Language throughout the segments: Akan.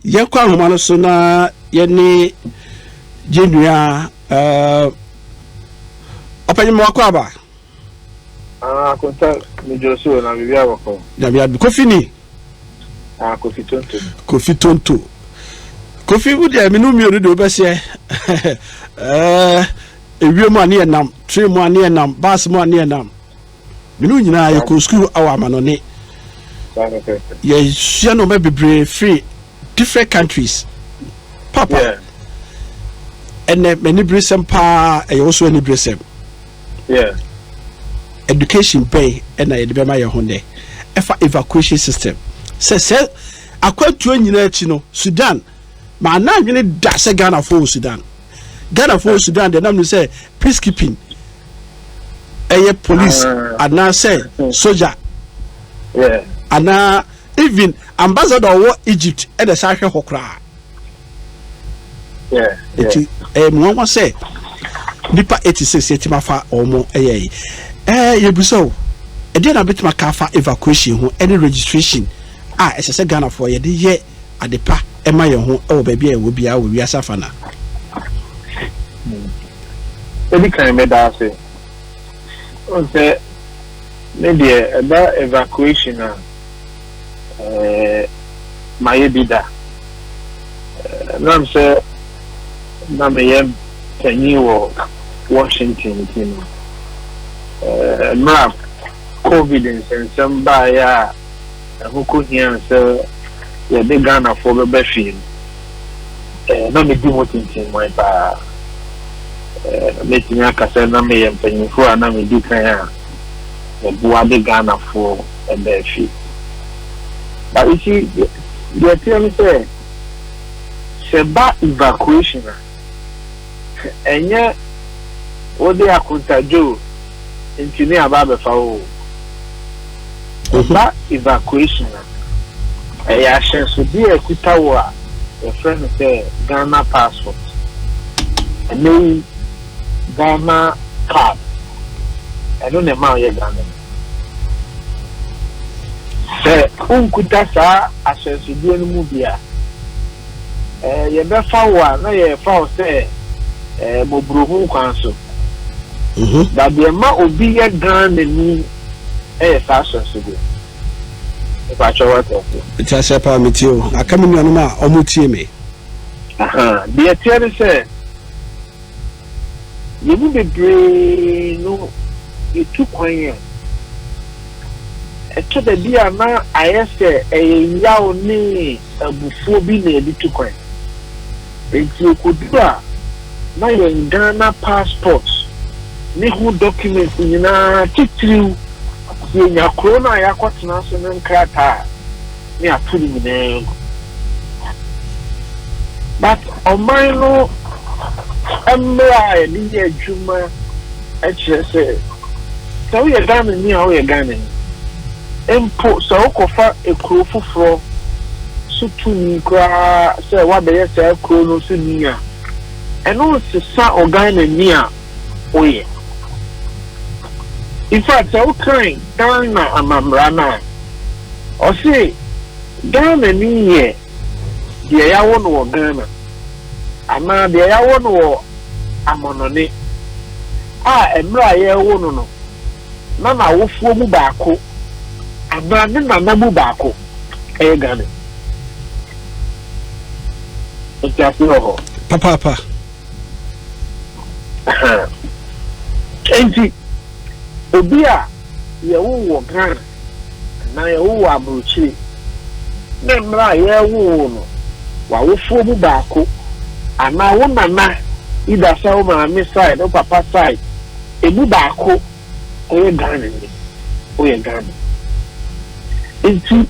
Yɛnkɔ ahoma no so na yɛne yɛn nua eh, ɔpanyin mmoako aba. Ah, akonta medwo so na biribi abɔ fam. Na bia kofi ni. Ah, kofi tonto. Kofi tonto. Kofi wo deɛ menu mmienu deɛ wobɛseɛ. Eh, ewiem a ne yɛ nam, train mu a ne yɛ nam, bus mu a ne yɛ nam. Me ne wo nyinaa yɛkɔɔ sukuu wɔ amanɔne. Yɛsua nnoɔma bebree firi different countries. Papa, ɛnɛ m'aniberesɛm paa ɛyɛ wo so aniberesɛm. Education bɛn ɛna yɛde bɛma yɛn ho nnɛ ɛfa evacuation system sɛ sɛ akwantuo nyinaa akyi no Sudan maa na adwene da sɛ Ghanafoɔ wɔ Sudan. Ghanafoɔ wɔ Sudan deɛ nam no sɛ peacekeeping ɛyɛ police ah. anaasɛ hmm. soja anaa even ambassador ɔwɔ Egypt ɛna ɛsɛ ahwɛ hɔ koraa nti ɛyɛ mu nwanwa sɛ nipa eighty six yɛ ti ma fa wɔn ɛyɛ yi ɛɛ yɛ bisa o ɛdeɛ na bɛtuma ka fa evacuation ho ɛne registration a ɛsɛ sɛ Ghanafoɔ yɛde yɛ. ade pa ma yɛn ho wɔ baabi a yɛwɔ biara wɔ wiase afanan. Mɛdi kan mɛda ase. Sɛ me deɛ ɛba evacuation a, eh, mayɛ bi da. Nam sɛ na meyɛ panyin wɔ Washington nti no, eh, mmerɛ a COVID nsɛnsɛm baeɛ a, ɛho kɔhiaa sɛ yɛde Ghanafoɔ bɛba fie no, ɛɛ na medi ho tintimmɔn pa ara. Ɛɛ mɛtumi aka sɛ na meyɛ mpanyinfoɔ a na medi kan a meboa de Ghanafoɔ baa fie. But you see, deɛ ɛteɛ ne sɛ, sɛ ɛba evacuation a, Ɛnyɛ wode akontadwo ntumi aba abɛfa wo wɔ mu. Ɔba evacuation a, ɛyɛ ahyɛnsodeɛ a ɛkuta wo a yɛfrɛ no sɛ Ghana passport. Ɛnɛ yi, Ghana card, ɛno na ɛma woyɛ Ghanani. Sɛ wonkuta saa ahyɛnsodeɛ no mu bi a, eh, yɛbɛfa wo a na yɛrefa wo sɛ eh, mmɔborɔhunu kwan so. Mhm. Ba deɛ ma obi yɛ dan n'ani yɛ saa sɔnsego. Mpakyɛ wate aseɛ. Mete aseɛ paa metie o. Aka me nuanom a wɔtie me. Aha, deɛ ɛteɛ ne sɛ Yɛn mu bebree no yɛtu kwan a, ɛtɔ da bi a na ayɛ sɛ ɛyɛ yaw ne abufuo bi na yɛde tu kwan. Enti ɛkɔduru a, na yɛn Ghana passport ne ho documents nyinaa, titiriw sɛ yɛnya kuro no a yɛakɔtena so no nkrataa, ne atoro nyinaa mu. But ɔman no mmara a yɛde yɛ adwuma kyerɛ sɛ, sɛ woyɛ Ghanani a woyɛ Ghanani. Mpo sɛ wokɔfa kuro foforɔ so tumi koraa sɛ woabɛyɛ saa kuro no so ni a, ɛno nsesa Ɔghanani a. woyɛ. Infact sɛ wokan Ghana amammara no a, ɔse Ghanani yɛ deɛ yɛawo no wɔ Ghana anaa deɛ yɛawo no wɔ amɔnɔne a mmerɛ a yɛrewo no no na n'awofoɔ mu baako anaa ne nana mu baako yɛ Ghanani. Nti ase wɔ hɔ. Papaapa. Enti, obi a yɛwoo wɔ Ghana anaa yɛwoo wɔ aburokyire, ne mmerɛ a yɛwoo wo no, w'awofoɔ mu baako anaa wo nana, either sɛ wo maame side, wo papa side, ɛmu baako, ɔyɛ Ghananyi, ɔyɛ Ghana. Ntsi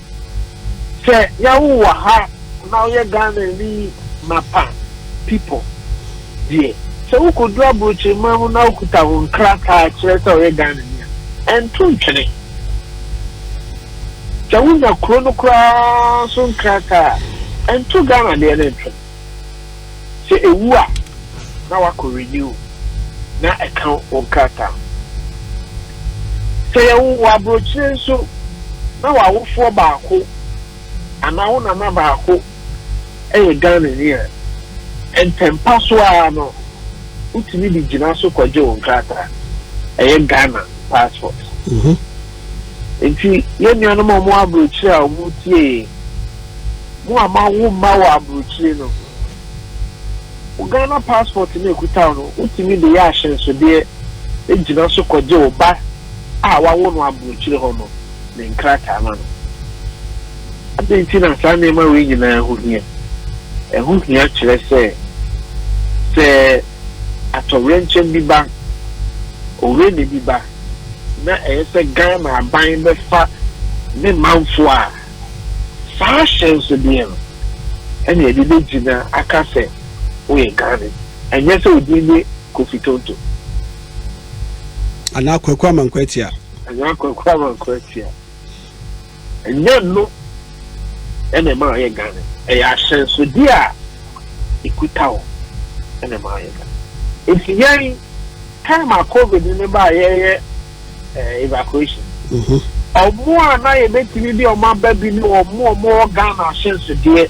sɛ yɛwo wo wɔ ha na ɔyɛ Ghananyi mapa pipo deɛ, sɛ wokodu aborɔkyirman mu na wokuta wo nkrataa kyerɛ sɛ ɔyɛ Ghananyi a, ɛnto ntwene. Sɛ wonya kuro no koraa so nkrataa a, ɛnto Ghana deɛ no ntwene. Sɛ ewu a, na wakɔ renew na ɛka wo nkrataa ho. Sɛ yɛwo wo aburokyire nso na w'awofoɔ baako anaa wo nana baako yɛ Ghanani a, ntɛmpa so ara no wotumi de gyina so kɔgye wo nkrataa. Ɛyɛ Ghana passport. Enti yɛn nuanom a wɔwɔ aburokyire a wɔretie yɛn, mo a moawo mma wɔ aburokyire no, wo Ghana passport no a ɛkuta wo no, wotumi de yɛ ahyɛnsodeɛ gyina so kɔgye wo ba a wɔawo no aburokyire hɔ no ne nkrataa ma no. Adɛn nti na saa nneɛma wei nyinaa ho hia? Ɛho hia kyerɛ sɛ, sɛ atoyerɛnkyɛm bi ba, owere nne bi ba, na ɛyɛ sɛ Ghana aban bɛfa ne manfo a, saa ahyɛnsodeɛ no na yɛde bɛgyina aka sɛ woyɛ Ghanani, ɛnyɛ sɛ wo din ne Kofi Tonto. Anaa Kwaku Amankwa Atia. Anaa Kwaku Amankwa Atia. Ɛnyɛ ɛno na ɛma wɔyɛ Ghanani. Ɛyɛ ahyɛnsode a ɛkuta wo na ɛma woyɛ Ghanani. Nti yɛn, time a covid no baa yɛyɛ evacuation no, wɔn a na yɛbɛtumi de wɔn aba bi ne wɔn a wɔwɔ Ghana ahyɛnsodeɛ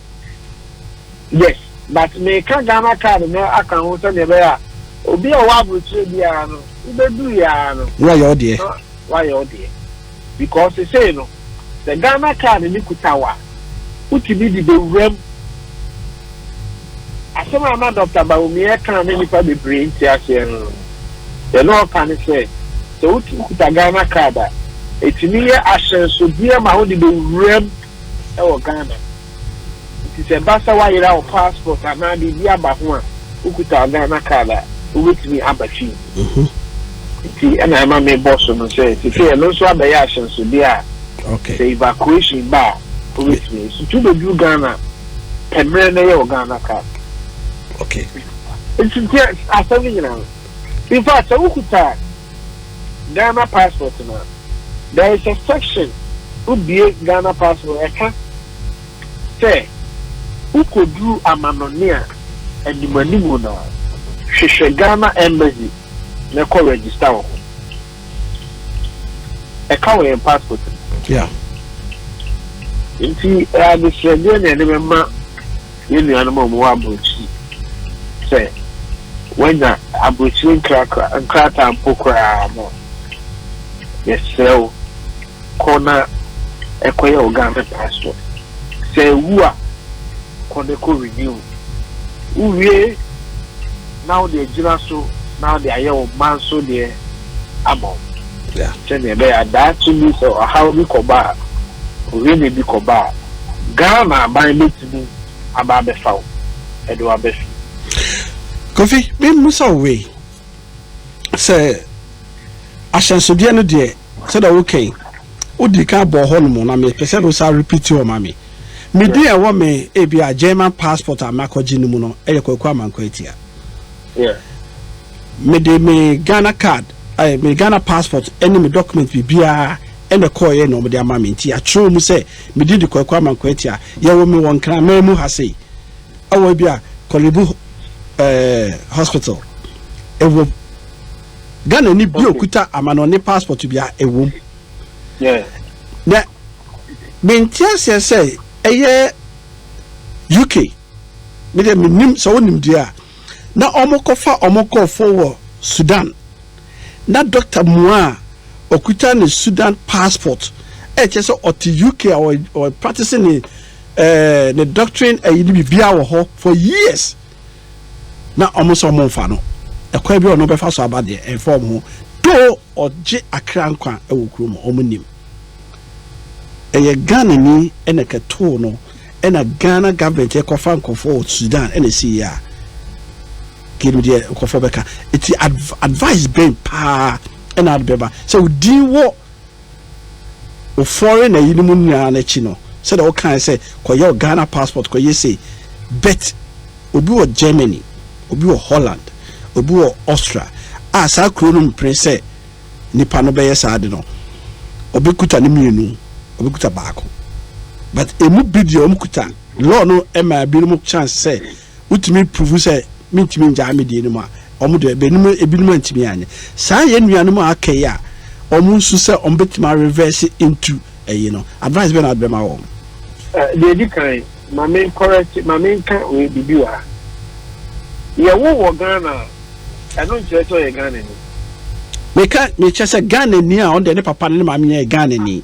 Yes but meka Ghana card no aka ho sɛdeɛ ɛbɛyɛ a obi a ɔwɔ aburokyire biara no wobɛduru yɛ ara no na wayɛ wo deɛ na wayɛ wo deɛ because sesei no sɛ Ghana card no kuta wo a wotumi de bɛwuram asɛm a na Dɔkta Bawumia ka ne nnipa bebree nte aseɛ no deɛ na ɔka ne sɛ sɛ wotumi kuta Ghana card a ɛtumi yɛ ahyɛnsodeɛ ma wode bɛwuram wɔ Ghana. Nti sɛ ɛba sɛ woayera wo passport anaa biribi aba ho a, wokuta wo Ghana card a, wobɛtumi aba fie. Nti ɛna ɛma mebɔ so no sɛ seesei ɛno nso abɛyɛ ahyɛnsodeɛ a sɛ evacuation ba a, wobɛtumi. Nti wobɛduru Ghana pɛ mmerɛ na yɛ wo Ghana card. Nti asɛm no nyina no, In fact, sɛ wokuta Ghana passport no a, there is a section wobue Ghana passport ɛka sɛ wokoduru amanɔne a animanimu no a, hwehwɛ Ghana Embassy na kɔ register wo ho. ɛka wɔ yɛn passport mu. Yeah. nti adesrɛdeɛ na yɛde bɛma yɛn nuanom a wɔwɔ aburokyiri sɛ wɔanya aburokyiri nkrataa mpo koraa no yɛsrɛ wo Kɔ na kɔyɛ wo Ghana passport. Sɛ ewu a, kɔ na kɔ renew. Wowie na wode agyina so na wode ayɛ wo mma nso deɛ ama wo. Sɛdeɛ ɛbɛyɛ a daakye bi sɛ ɔhaw bi kɔba a, ohene bi kɔba a, Ghana aban bɛtumi aba abɛfa wo de wo aba fie. Kofi, memmisa wo wei. sɛ ahyɛnsodeɛ no deɛ sɛdeɛ woka yi wodii kan bɔɔ hɔ nom na mepɛ sɛ wosa repeat hɔ ma me me din a ɛwɔ me ebi a German passport a makɔgye no mu no ɛyɛ Kwaku Amankwa Atia mede me Ghana card ɛyɛ me Ghana passport ɛne me document biribiara ɛna kɔɔyɛ na wɔde ama me nti atwerɛ mu sɛ me din de Kwaku Amankwa Atia yɛwɔ me wɔ Nkraman mu ha sei ɛwɔ bi a Kɔlebu eh, hospital ɛwom ghana ni bi okuta amanɔne passport bi a ɛwom na mente aseɛ sɛ ɛyɛ uk medeɛ menim sɛ wonim deɛ a na ɔmokɔfa ɔmo nkurɔfoɔ wɔ sudan na dɔkta mua a ɔkuta ne sudan passport ɛkyɛ sɛ ɔte uk a ɔpractice ne Ɛɛ ne doctrine ɛyi ne bibia wɔ hɔ for years na ɔmo nso ɔmo nfa no ɛkwan bi a ɔno bɛfa so aba deɛ ɛnfa ɔmo ho do ɔgye akra nkwa ɛwɔ kuro mu ɔmo nim ɛyɛ Ghana ni ɛna ɛkɛtoo no ɛna Ghana government ɛkɔfa nkɔfo wɔ Sudan ɛna ɛsi yɛ a kiri deɛ nkɔfo bɛka eti advice bɛn paa ɛna adbɛba sɛ odin wɔ. Ofɔre na eyinom nyinaa no akyi no, sɛdeɛ wokaeɛ sɛ kɔyɛ wo Ghana passport, kɔyɛ sei, but obi wɔ Germany, obi wɔ Holland, obi wɔ Austria a saa kuro no mpene sɛ nipa no bɛyɛ saa ade no, ɔbɛkuta ne mmienu, ɔbɛkuta baako. But ɛmu bi deɛ wɔkuta, law no ma binom chance sɛ, wotumi pruvu sɛ mentumi ngyaa me deɛ no mu a, wɔn deɛ bɛnum ebinom antumi anyɛ. Saa yɛn nuanom a aka yi a wɔn nso sɛ wɔn bɛtumi arevɛse ntu ɛyi no, advice bɛn na wode bɛma wɔn? Deɛ edi kan, ma me nkɔrɛkye, ma me nka wei biribi wɔ ha. Yɛwo wɔ Ghana a, ɛno nkyerɛ sɛ ɔyɛ Ghanani. Meka mekyɛ sɛ Ghanani a ɔno deɛ ne papa ne ne maame nyinaa yɛ Ghanani.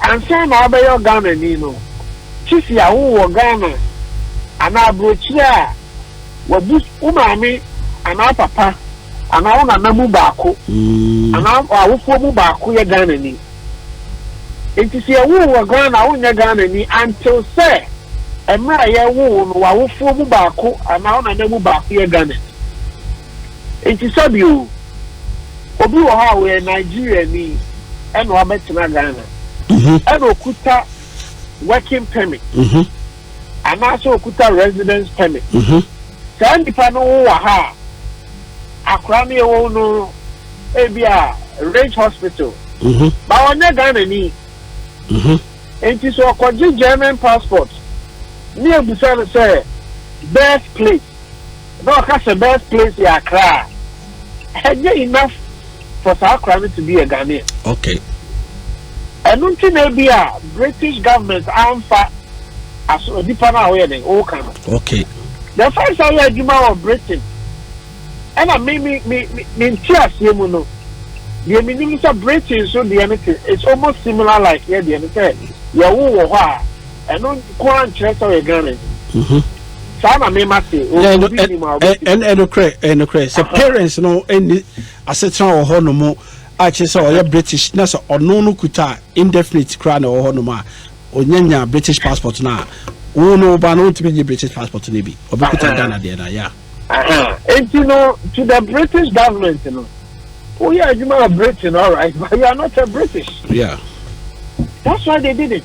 Ansa na wabɛyɛ Ɔghanani no, sisi a wowɔ wɔ Ghana anaa aburokyire a wabu wo maame anaa wo papa anaa wo nana mu baako anaa w'awofoɔ mu baako yɛ Ghanani. Enti sɛ yɛwo wo wɔ Ghana a wonyɛ Ghanani until sɛ mmerɛ a yɛwo wo no w'awofoɔ mu baako anaa wo nana mu baako yɛ Ghanani. Nti sɛbio obi wɔ hɔ a ɔyɛ Nigeriani ɛna wabɛtena Ghana mhm. ɛna okuta working permit mhm. anaasɛ okuta residence permit mhm. saa nipa no wo wɔ ha a akora no yɛwɔ no ebi a range hospital ba wɔnyɛ Ghana ni nti sɛ ɔkɔgye German passport ne ebusa no sɛ birth plate. na ɔka sɛ best place yɛ Accra a, ɛnyɛ enough for saa akora no to be a Ghanaian. Okay. Ɛno nti na ebi a British government amfa aso nipa no a woyɛ den woka no. Okay. The first time yɛ adwuma wɔ Britain ɛna me me me me nti aseɛ mu no deɛ me nim sɛ Britain so deɛ no te it's almost similar like yɛ deɛ no sɛ yɛwo wɔ hɔ a. ɛno nko ara nkyerɛ sɛ ɔyɛ ghanani mhm. saa na me ma se ɛnokorɛ ɛnokorɛ sɛ parents no ɛni asetena wɔ hɔ nom a kyerɛ sɛ ɔyɛ british na sɛ ɔno no kuta indefinite koraa na ɛwɔ hɔ nom a ɔnyanya british passport no a wo no woba no wontumi nye british passport no bi ɔbɛkuta ghana deɛ no yɛ nti no to the british government no woyɛ adwuma wɔ britain all right but you are not a british yeah that's why they did it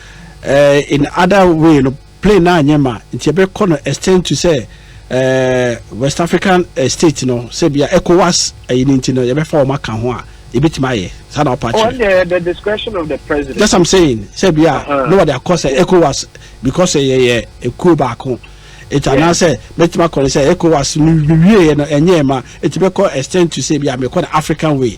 Eh in other way no plane no anyɛ ma nti yɛbɛkɔ no extend to sɛ eh, West African eh, state no sɛ bia ECOWAS ɛyi eh, no nti no yɛbɛfa wɔn aka ho a ebetumi ayɛ saa na ɔpa kyerɛ. Oh, the discretion of the president. That's I'm saying sɛ bia uh-huh. no wɔde akɔ sɛ ECOWAS because ɛyɛ eh, yɛ ekuo baako nti anaasɛ mɛtumi akɔ no sɛ ECOWAS no wie yɛ no ɛnyɛ ma nti bɛkɔ extend to sɛ bia mekɔ no African way.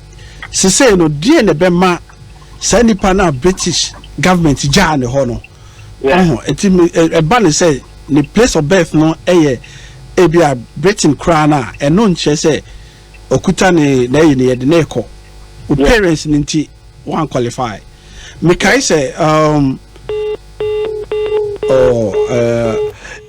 Sesei no, deɛn na ɛbɛma saa nipa no a British government gyaa ne hɔ no? Ɔho, ɛti ɛba ne sɛ ne place of birth no ɛyɛ ebi a Britain koraa no a, ɛno nkyerɛ sɛ ɔkuta ne n'ayi ne yɛde ne kɔ. O parents no nti, one qualify. Mekae sɛ, um, oh, uh,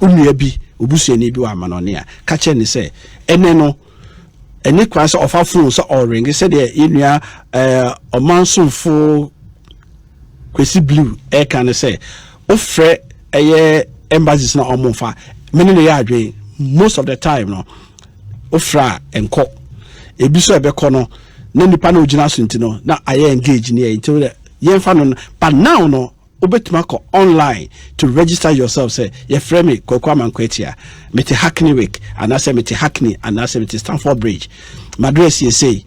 Wo nua bi, wo busuani bi wɔ amanɔne a, ka kyerɛ no sɛ, ɛnnɛ no, ɛne kwan sɛ ɔfa fon sɛ ɔrenge sɛdeɛ yɛ nua ɛɛ ɔman somfo Kwesi Blue ɛka no sɛ, wofrɛ ɛyɛ embassies na wɔn fa mene ne yɛ adwene most of the time no wofrɛ a nkɔ ebi so ɛbɛkɔ no na nipa na ogyina so nti no na ayɛ engage ne yɛ nti yɛnfa no but now no Wobɛtumi akɔ online to register yourself sɛ, Yɛfrɛ me Kwaku Amankwah Atia. Mete Hackney Wick, anaasɛ mete Hackney, anaasɛ mete Stamford Bridge. M'address yɛ sei.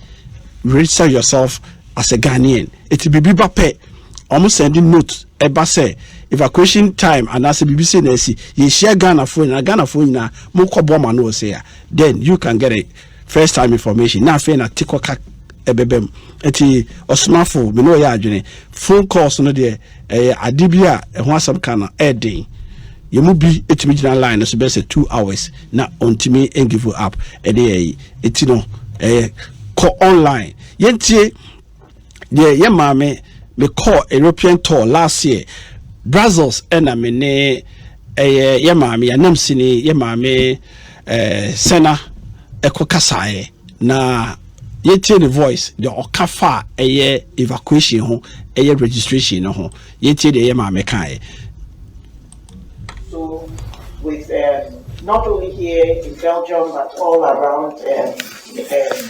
Register yourself as a Ghanaian. Ɛti biribi ba pɛ, wɔn sɛnde note ɛba sɛ evacuation time anaasɛ biribi sei na asi. Yɛhyia Ghanafoɔ nyinaa, Ghanafoɔ nyinaa, monkɔboa mo ano wɔ sei a, then you can get a First time information na afei na tikɔ ka ɛbɛbɛ mu ɛti ɔsomafo me ne ɔyɛ adwene phone calls no deɛ ɛyɛ ade bi a ɛho asɛm ka no ɛɛden yɛn mu bi ɛtumi gyina line no so bɛyɛ sɛ two hours na ɔntumi ɛngive up ɛde ɛyi ɛti no ɛyɛ kɔ online yɛntie deɛ yɛ maame me kɔɔ european tour last year brazils ɛna me ne ɛyɛ yɛ maame anam sini yɛ maame ɛɛ eh, sɛna ɛkɔ kasaeɛ na yɛtie ne voice deɛ ɔka fa a ɛyɛ evacuation ho ɛyɛ registration no ho yɛtie deɛ yɛ maame kaeɛ. so with um, not only here in belgium but all around um, um,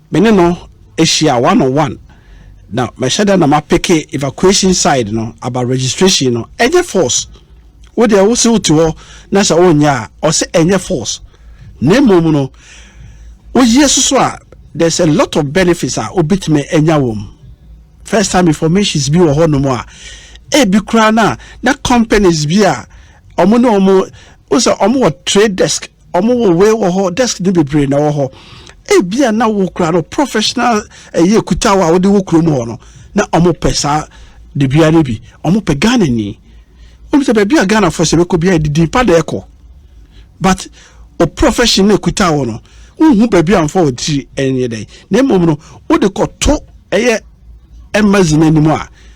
Me ne no ahyia one on one na mɛhyɛ da na ma peke evacuation side no aba registration no ɛnyɛ force wo deɛ wo se wo te hɔ na sɛ wo nyɛ a ɔse ɛnyɛ force na mmom no wo yie soso a there's a lot of benefits a wobɛtumi anya wɔm first time informations bi wɔ hɔ nom a ebi koraa na na companies bi a ɔmo ne ɔmo wo sɛ ɔmo wɔ trade desk Ɔmo wɔ wei wɔ hɔ, desk no bebree na ɛwɔ hɔ. Ebia na wo kura no professional ɛyɛ kuta a wode wɔ kurom hɔ no, na ɔmo pɛ saa debea no bi. Ɔmo pɛ Ghana ni. Wɔn sɛ baabi a Ghana fo sɛ bɛkɔ bi a yɛde din pa na ɛkɔ. But o profession na kuta wɔ no, wohu baabi a nfa wɔ tiri ɛnyɛ dɛ. Na mmom no, wode kɔto ɛyɛ embassy no anim a,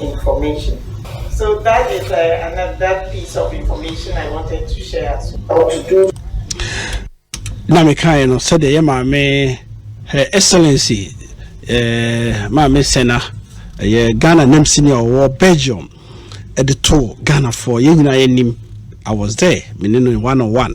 information. So that is a another piece of information I wanted to share as well. Na me kae no sɛdeɛ yɛ maame her excellency eh, maame sena ɛyɛ eh, Ghana nam senior ɔwɔ Belgium ɛde eh, to Ghana for yɛn nyinaa yɛ nim I was there me ne no one on one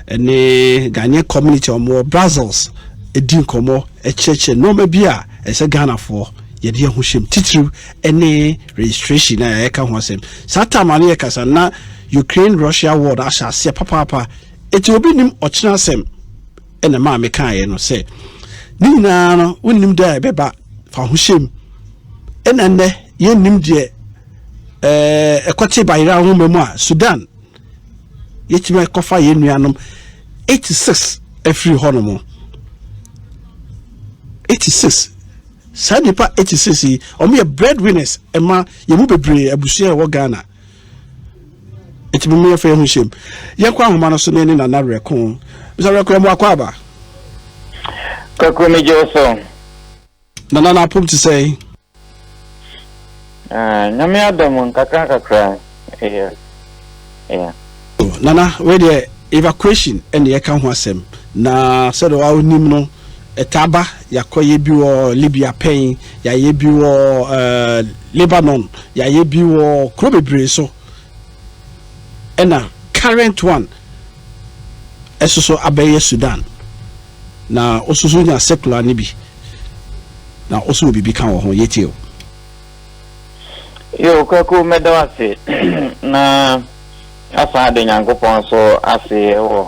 ɛne Ghanaian community ɔmo wɔ Brussels ɛdi nkɔmɔ ɛkyerɛkyerɛ nneɛma bi a ɛsɛ Ghana for. yɛde yɛn ho hyɛm titiriw ne registration a yɛka ho asɛm saa tam ano yɛ kasa na Ukraine Russia war no ahyɛ aseɛ papaapa eti obi nim ɔkyena asɛm ɛna maa me kaeɛ no sɛ ne nyinaa no wonim da a ɛbɛba fa ho hyɛm ɛna nnɛ yɛnnim deɛ ɛɛ ɛkɔte bayera nwoma mu a Sudan yɛtumi kɔfa yɛn nuanom 86 afiri hɔ nom 86 Saa nnipa eti sisi yi, wɔn yɛ bread winners ɛma yɛn mu bebree abusua a ɛwɔ Ghana. Eti mo mmea fɛ ho hyɛm. Yɛn kɔ ahoma no so ne ne nana rɛko. Bisa rɛko ɛmo akɔ aba. Kakro mi gye so. Nana na apom te sɛ. Na Nyame adɔ mo nkakrankakra ɛyɛ ɛyɛ. Oh Nana wei deɛ evacuation ɛna yɛka ho asɛm na sɛdeɛ wa wo nim no ɛtaa ba yakɔ yɛ bi wɔ Libya pɛn yayɛ bi wɔ uh, Lebanon yayɛ bi wɔ kuro bebree so ɛna current one ɛsoso abɛyɛ Sudan na ososo nya secular ne bi na oso wɔ biribi ka wɔ ho yɛtie o. Yo, Kwaku, meda wo ase na asan ada Nyankopɔn nso ase wɔ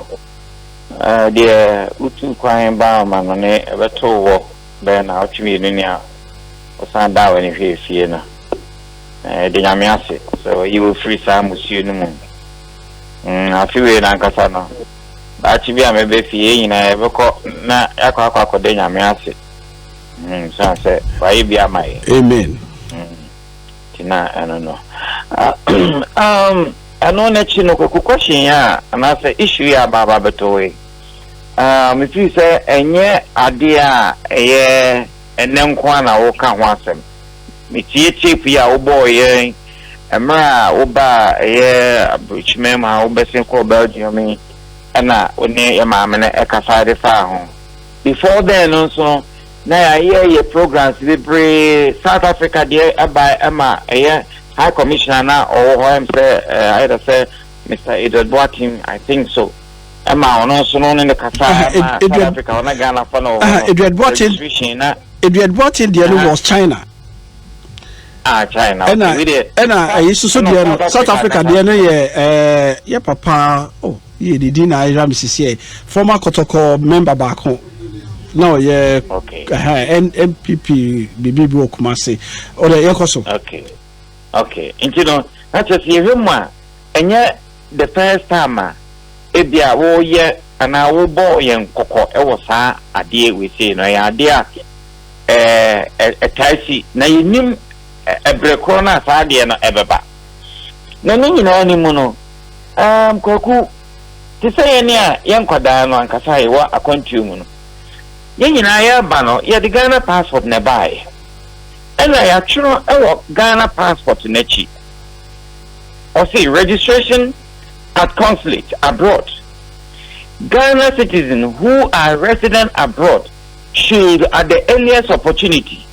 deɛ wotu kwan baa ɔma no ne ɛbɛto wɔ bɛyɛ na ɔtwe mmienu ni a ɔsan daa w'ani hwɛ efie no. Ɛde Nyame ase sɛ ɔyi wo firi saa musuo no mu. Mm, afe wei nankasa no, daakye bi a mɛbɛ fie yɛn nyinaa yɛbɛkɔ na yɛakɔ akɔ akɔda Nyame ase. Mm, sane sɛ wayɛ bi ama yɛ. Amen. Mm. Nti na ɛno no. um, ɛno n'akyi no koko question yi a anaasɛ issue yi a baaba bɛtɔe. Uh, mefiri sɛ ɛnyɛ adeɛ a ɛyɛ ɛnɛ nko a na woka ho asɛm. Metie tape yi a wobɔɔ yɛn mmerɛ a wobaa ɛyɛ aburokyima mu a wobɛsen kɔɔ Belgium yi ɛna wo ne yɛ maame no ɛkasa de faa ho. Before then no nso no na yɛayɛ yɛ programs bebree, South Africa deɛ ɛbae ɛma ɛyɛ High Commissioner a na ɔwɔ hɔ ɛm sɛ either sɛ Mister Edward Boateng I think so ɛma ɔno nso no ne ne kasa ɛma South Africa ɔna Ghana fɔ no wɔ hɔ Edward Boateng na Edward Boateng deɛ no was China ah China ɛna ɛna ɛyi soso deɛ no South Africa deɛ no yɛ ɛɛ yɛ papa oh. Yɛ ne din na ayera me sisiɛ. Former kɔtɔkɔ member baako na ɔyɛ okay. uh, NPP bibi bi wɔ Kumasi. Ɔdɛ yɛ kɔ so. Okay. Okay. Nti no, na kyerɛ sɛ yɛhwɛ mu a ɛnyɛ the first time a ebi a wɔyɛ anaa wɔbɔ yɛn kɔkɔ wɔ saa adeɛ wei sei no ɛyɛ adeɛ a ɛɛ ɛtaa si na yɛnim ɛbrɛ korɔ no a saa adeɛ no ɛbɛba. Na ne nyinaa no mu no, aam, Kwaku, te sɛ yɛn a yɛ nkwadaa no ankasa yɛwɔ akwantuo mu no, yɛn nyinaa yɛreba no, yɛde Ghana passport na ɛbaeɛ. Ɛna yɛatwerɛ wɔ Ghana passport no akyi, ɔse registration at consulate abroad. Ghana citizens who are resident abroad should at the earliest opportunity.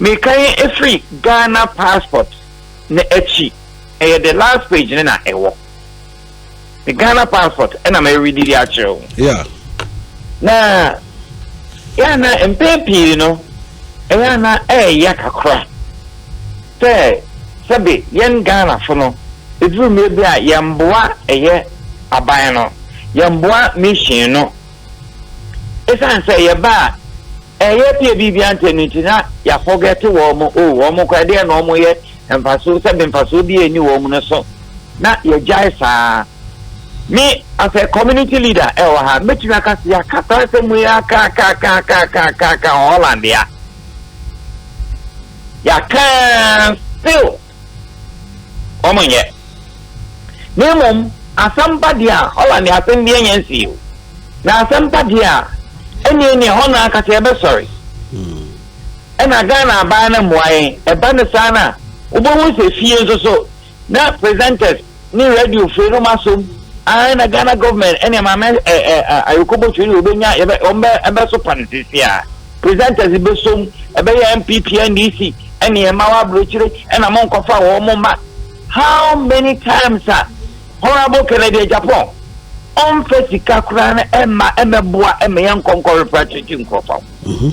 Meka yi ɛfiri Ghana passport no akyi ɛyɛ the last page no na ɛwɔ me Ghana passport ɛna me read de akyerɛ wo. Yeah. Na yɛ ana mpɛn pii no ɛyɛ ana ɛɛya kakra sɛ sɛbe yɛn Ghana fo no ɛduru mmerɛ bi a yɛn boa ɛyɛ aban no yɛn boa mission no Esiane sɛ yɛba a ɛyɛ pie biribiara ntɛm no nti na yɛafɔgɛte wɔn. O, wɔn koraa, ɛdeɛn na wɔyɛ mfasoɔ, sɛ me mfasoɔ biara nni wɔn no so, na yɛgyae saa. Me, as a community leader ɛwɔ ha, mɛtumi aka sɛ yɛaka saa nsɛm wei ara kakaakakaakakaakaka wɔ Holland ha. Yɛaka ara still. wɔnnyɛ. Na mmom asɛm ba deɛ a, ɔla nea asɛm biara nnya nsii o, na asɛm pa deɛ a, ɛneɛ nea hɔ no ankasa yɛbɛsɔre. Ɛna Ghana abaa no mmoa yɛn, ɛba no saa no a, wobɛhu sɛ fie nso so na presenters ne radio firi no ma som ara na Ghana government ɛne maame ɛ ɛ ayɔkɔbɔ firi no wɔbɛnya yɛbɛ wɔn bɛ ɛbɛ so pa no sisi a presenters bɛ som ɛbɛyɛ NPP NDC ɛne yɛn mma wɔ aburokyire ɛna mo nkɔfa wɔn mo mma how many times a honourable Kennedy Agyapong ɔmfa sika koraa no ɛma ɛmɛboa ɛma yɛn nkɔnkɔ refra kyekye nkurɔfoɔ. Mhm.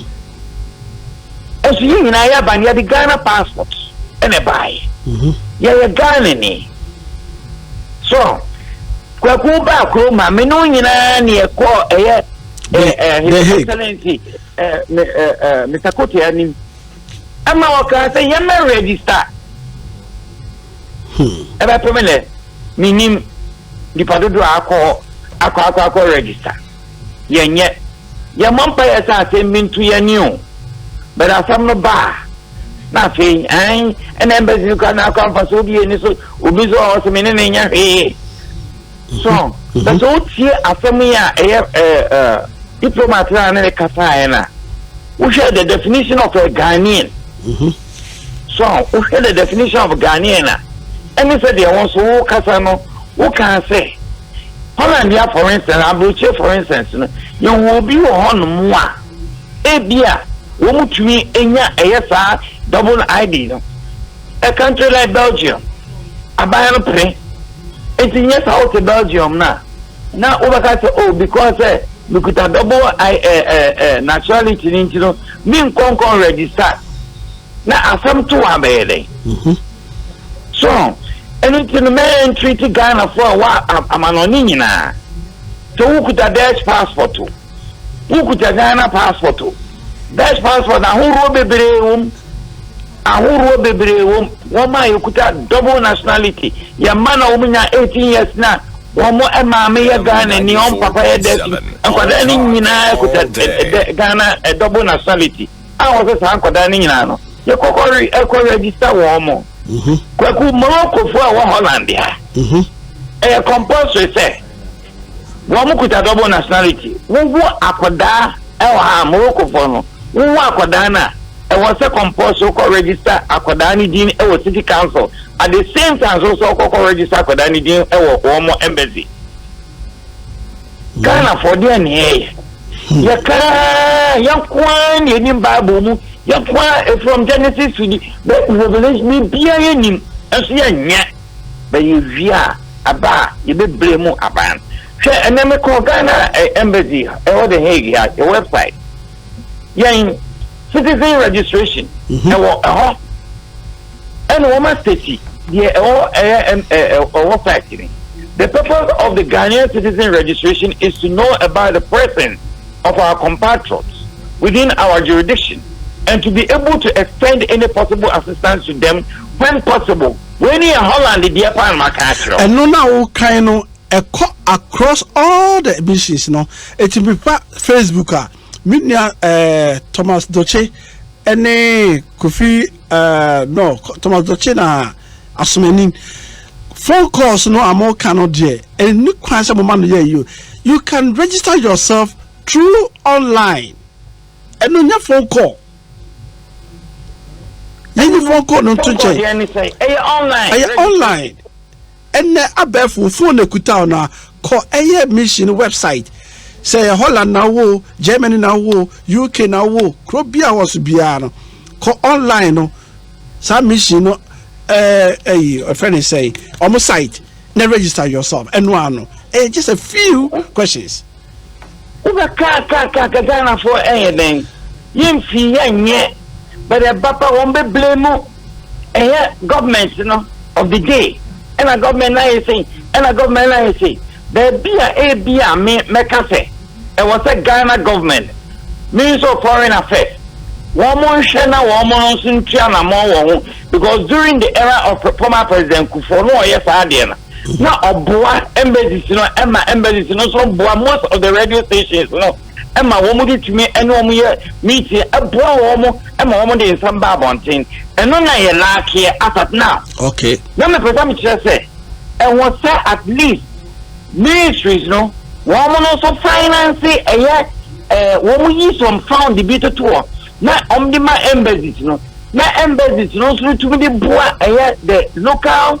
Ɛso yɛ nyinaa yɛ aba no yɛde Ghana passport ɛna ɛbaeɛ. Mhm. Yɛyɛ Ghana ni. So kwaku ba kuro ma me no nyinaa ne ɛkɔ ɛyɛ eh, eh, His Excellency eh, eh, eh, Mr. Kote anim. Ɛma wɔkaa sɛ yɛmɛ register. Hmm. Ɛbɛpɛ me nɛ menim nipa dodoɔ akɔ akɔ akɔ akɔ register. yɛnyɛ. Yɛmmɔ mpaeɛ sɛ asɛm bi nto yɛn ani o, but asɛm no ba a, na afei ae, ɛna embassy no koraa na akɔ mfasoɔ bi ani so, obi nso wɔ hɔ sɛ me ne no nyɛ hwee. So, but sɛ wotie asɛm yi a ɛyɛ diplomat no a ne ne kasaeɛ no a, wohwɛ the definition of a Ghanaian. Mm-hmm. So, wohwɛ the definition of Ghanaian a, ɛne sɛ deɛ wɔn so wokasa no, wokaa sɛ, Hollandia for instance, aburokyire for instance no, yɛwɔ obi wɔ hɔnom a, ebia wɔn tumi nya ɛyɛ saa double ID no. A country like Belgium, aban no pere. Nti nyɛ saa wote Belgium no a, na wobɛka sɛ, oh, because sɛ mekuta double I, eh, eh, eh, nationality no nti no, menkɔnkɔn register. Na asɛm to abɛyɛ dɛn? Mm-hmm. So ɛno nti no mɛyɛ ntreat Ghanafoɔ a ɛwɔ amanɔne nyinaa? Sɛ wokuta Dutch passport o, wokuta Ghana passport o, Dutch passport ahoroɔ bebree wɔ mu, ahoroɔ bebree wɔ mu. Wɔn a yɛkuta double nationality, yɛn mma na wɔn nya 18 years na wɔn maame yɛ Ghana ni, wɔn papa yɛ Dutch ni, nkwadaa no nyinaa kuta Ghana double nationality. a wɔsɛ saa nkwadaa no nyinaa no yɛkɔkɔre kɔ register wɔn mo. Mhm. Kwaku Moroccofoɔ a ɛwɔ Holland ha. Mhm. Ɛyɛ compulsory sɛ wɔn kuta double nationality. Wowo akwadaa ɛwɔ ha Moroccofoɔ no wowo akwadaa no a ɛwɔ sɛ compulsory kɔ register akwadaa no din ɛwɔ city council at the same time so sɛ ɔkɔkɔ register akwadaa no din ɛwɔ wɔn embassy. Ghana fɔ deɛ ne yɛyɛ hmm. yɛ kaa yɛ nkoa ne yɛnim bible mu yɛ nkoa from genesis to the revelation ne bia yɛnim nso yɛnyɛ bɛyɛ wie a aba a yɛbɛbrɛ mu aban hwɛ ɛnɛ mekɔ ghana eh, embassy ɛwɔ the hague ha yɛ website yɛn citizen registration mhm. ɛwɔ ɛhɔ ɛna wɔn asitɛti deɛ ɛwɔ ɛyɛ ɛwɔ site ni the purpose of the ghanaian citizen registration is to know about the presence of our compatriots within our jurisdiction and to be able to extend any possible assistance to them when possible wei ni yɛ holland deɛ paa na ma kan akyerɛ o. ɛno na o kan no. ɛkɔ across all the emissions no eti mepa facebook a me nua ɛɛ eh, thomas doche ɛne kofi ɛɛ eh, no thomas doche na asomanin phone calls no a mo ka no deɛ ɛni kwan sɛ mo ma no yɛ yio you can register yourself through online ɛno nyɛ phone call yɛnyi phone call no nto nkyɛn ɛyɛ online ɛyɛ online. Ɛnnɛ abɛɛfo wo phone akutao no a kɔ ɛyɛ mission website sɛ ɛyɛ Holland na wowɔ o, Germany na wowɔ o, UK na wowɔ o, kuro biaa wɔ so biaa no kɔ online no saa mission no ɛɛ ɛyi ɛfrɛ ne sɛn ɔmo site na register yourself ɛnoaa no ɛyɛ just a few questions. Wobɛ kaa kaa kaa kɛ Ghana foɔ ɛyɛ dɛn yɛn fii yɛ nyɛ but ɛba pa wɔn bɛ blame ɛyɛ government no of the day ɛna government no ayɛ sei ɛna government no ayɛ sei baabi a ebi a me mɛka sɛ ɛwɔ sɛ Ghana government means of foreign affairs wɔn mo nhwɛ na wɔn mo no nso ntua namɔn wɔ ho because during the era of former president Kufuor no ɔyɛ saa adeɛ no. na ɔboa embassies no ɛma embassies no nso boa most of the radio stations no ɛma wɔn de tumi ɛne wɔn yɛ meeting ɛboa wɔn ɛma wɔn de nsɛm ba abɔnten ɛno na yɛ laakeɛ asat now okay na mepɛ sɛ mekyerɛ sɛ ɛwɔ sɛ at least ministries no wɔn no nso finance ɛyɛ ɛɛ wɔn yi some fund bi toto hɔ na wɔn de ma embassies no na embassies no nso tumi de boa ɛyɛ the local.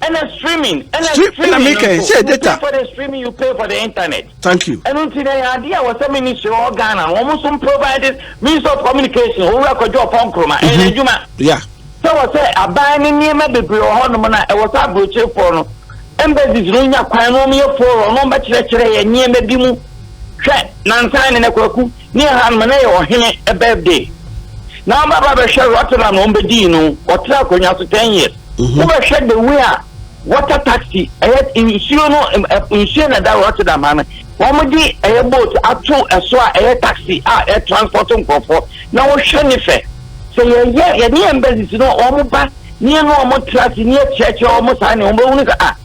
ɛna streaming ɛna streaming nso you pay data. for the streaming you pay for the internet. thank you. ɛnu ti na yɛ adeɛ a wɔsɛ ministry wɔ ghana wɔn nso provide means of communication owura kɔjɔ ɔpɔ nkuruma ɛyɛ mhm. adwuma. ya. sɛ wɔsɛ aban ne nneɛma bebree wɔ hɔ nom na ɛwɔ sɛ aburokyerefoɔ no embassies no nya kwan no wɔn yɛ forum wɔn bɛkyerɛkyerɛ yɛ nneɛma bi mu hwɛ nansan ne na kwaku ne ɛha nom na yɛ ɔhene birthday na wɔn baba bɛhwɛ rotterdam na wɔn bɛdii no wɔtena akonnwa so ten years. Wo bɛ hwɛ the way a water taxi ɛyɛ nsuo no nsuo na ɛda Rotterdam ha no wɔn mo de ɛyɛ boat ato ɛso a ɛyɛ taxi a ɛ transport nkorɔfoɔ na wo hwɛ ne fɛ sɛ yɛ yɛ yɛ ne yɛ mbɛsisi no wɔn mo ba ne yɛ no wɔn mo tra si ne yɛ kyerɛkyerɛ wɔn mo saa ne wɔn bɛ wunu sɛ a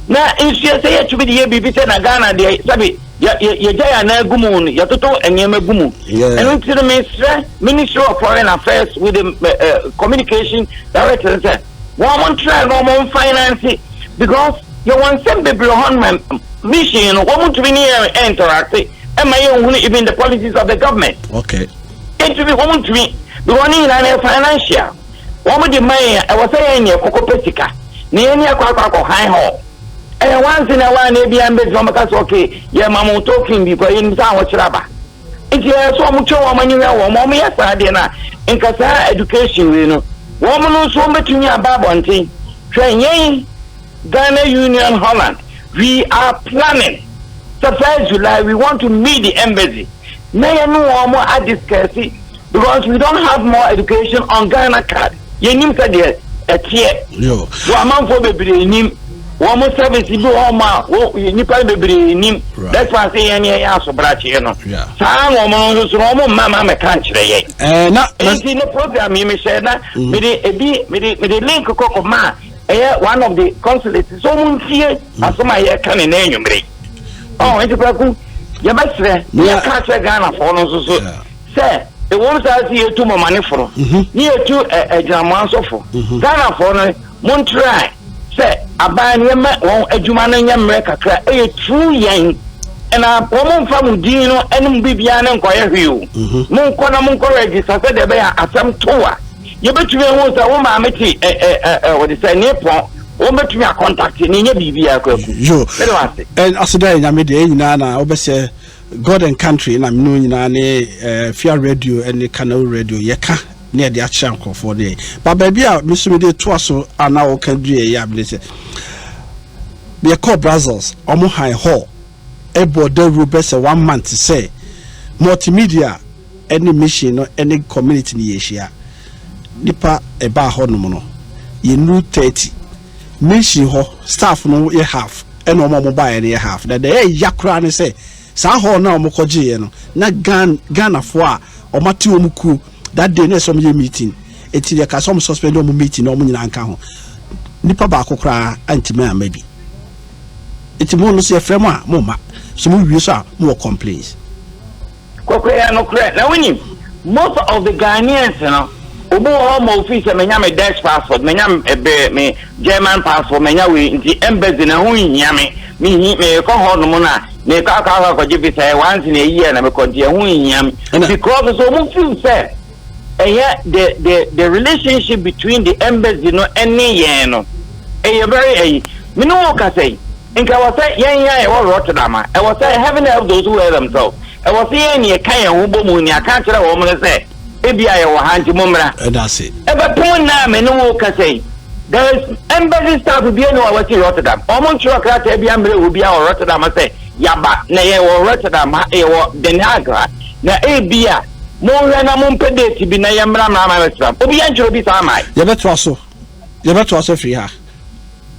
na nsuo sɛ yɛ tumi de yɛ biribi sɛ na Ghana deɛ sɛbi. yɛgya yɛn anan gu mu yɛtoto nneɛma gu mu ɛno nti no mesrɛ ministry of foreign affairs with the uh, communication director sɛ wɔn mo ntra na wɔn finance because yɛwɔ nsɛm bebree hɔ no mission no wɔn ntumi ne yɛn interacte ɛma yɛn nhunu even the policies of the government okay ntumi wɔn ntumi because ne nyinaa no yɛ financial wɔn de man yɛn ɛwɔ sɛ yɛn yɛ kɔkɔ pɛ sika na yɛn ni akɔ akɔ akɔ han hɔ. Ɛyɛ wanse na wan na ebia mbe sɛ wɔbɛka sɛ okay yɛ ma mo token bi kɔ yɛnim sɛ ahokyerɛ aba nti ɛyɛ sɛ wɔn twɛ wɔn ani hwɛ wɔn wɔn yɛ saa deɛ no a nka saa education wei no wɔn no nso wɔn bɛtumi aba abɔnten hwɛ yɛn Ghana Union Holland we are planning sɛ first July we want to meet the embassy na yɛne wɔn adiscuss Because we don't have more education on Ghana card. Yɛnim sɛdeɛ ɛteɛ. So amanfoɔ bebree nim. Wɔn service bi wɔ hɔ ma nnipa no bebree nim. That's why sɛ yɛn yɛyɛ asobrakyeɛ no. Saa na wɔn nso so na wɔn mma ma mɛka nkyerɛ yɛ. Nti ne program yi mehyɛ na mede ebi mede mede link kɔkɔ ma ɛyɛ one of the consulates so wɔn ntie asɛm a yɛka ne nan nwumire. Ɔn nti kwaku yɛbɛsrɛ yɛka kyerɛ Ghanafoɔ no nso so. Sɛ, ewom saa se yetu mɔmaneforo ne yetu agyinamoansɔfo, Ghanafɔɔ no montrae sɛ aban no yɛmɛ wɔn adwuma no nyɛ mmerɛ kakra ɛyɛ true yɛn na wɔn mfa mo din no ɛne mo biribiara no nkɔyɛ hwee o, monkɔ na monkɔ register sɛdeɛ ɛbɛyɛ a asɛm to a yɛbɛtumi ahu sɛ wo maame te ɛ ɛ ɛ wɔde sɛ ne pɔn wɔn bɛtumi akɔntakte ne nyɛ biribiara kwaku mede wɔ ase. Aseda yɛ nyame deɛ ɛnyinaa na wobɛsɛ. God and Country na mene nyinaa ne Fia Radio ne Kanawu Radio yɛka ne yɛde akyerɛ nkurɔfoɔ ne ba baabi a meso mede toa so a na wɔka du yɛyɛ a mede sɛ yɛkɔɔ Brussels ɔmo han hall ɛbɔ dawuro bɛ sɛ one month sɛ multimedia ne mission no ne community no yɛhyia nipa ɛbaa hɔnom no yɛnuru 30 Mission hɔ staff no yɛ half ɛna wɔn a wɔn baeɛ no yɛ half na deɛ ɛyɛ ya koraa ne sɛ saa hall no a wɔn kɔ gyeeɛ no na Ghan Ghanafoɔ a wɔn ate wɔn kuo that day na ɛsɛ wɔn yɛ meeting eti deɛ ɛka sɛ wɔn suspend wɔn meeting na wɔn nyinaa nka ho nipa baako koraa antumi ama bi eti mo no so yɛfrɛ mo a mo mma so mo wie so a mo wɔ complaints. Kɔkɔ yɛ nokorɛ na wonim most of the Ghanaians no obi wɔ hɔ ma ofii sɛ manya me Dutch passport manya me me German passport manya wei nti embassy na ho nhia me mehi mekɔ hɔ nom no a mekɔ akɔ akɔ akɔgye visa yɛ once na a year na mekɔ nti ɛho nhia me because so ɔmo feel sɛ ɛyɛ the the the relationship between the embassy no ɛne yɛn no ɛyɛ very ɛyi me ne wo kasa yi nka wɔ sɛ yɛn yɛn ɛwɔ Rotterdam a ɛwɔ sɛ heaven help those who help themselves ɛwɔ sɛ yɛn ne yɛka yɛn ho bɔ mu ne aka kyerɛ wɔn no sɛ ebi a yɛwɔ ha nti mo mmra ɛbɛpem nna a me ne wo kasa yi there is embassy staff bi ɛne wɔn si Rotterdam wɔn ntwerɛ krataa bi ammerɛ wɔ bi a wɔ Rotterdam sɛ yaba na yɛwɔ Rotterdam ha yɛwɔ Den Haag ha na ebi a Monhwɛ na mompɛ date bi na yɛmmra mmra Amsterdam. Obiara nkyerɛ obi saa mmae. Yɛbɛtoa so, yɛbɛtoa so afiri ha.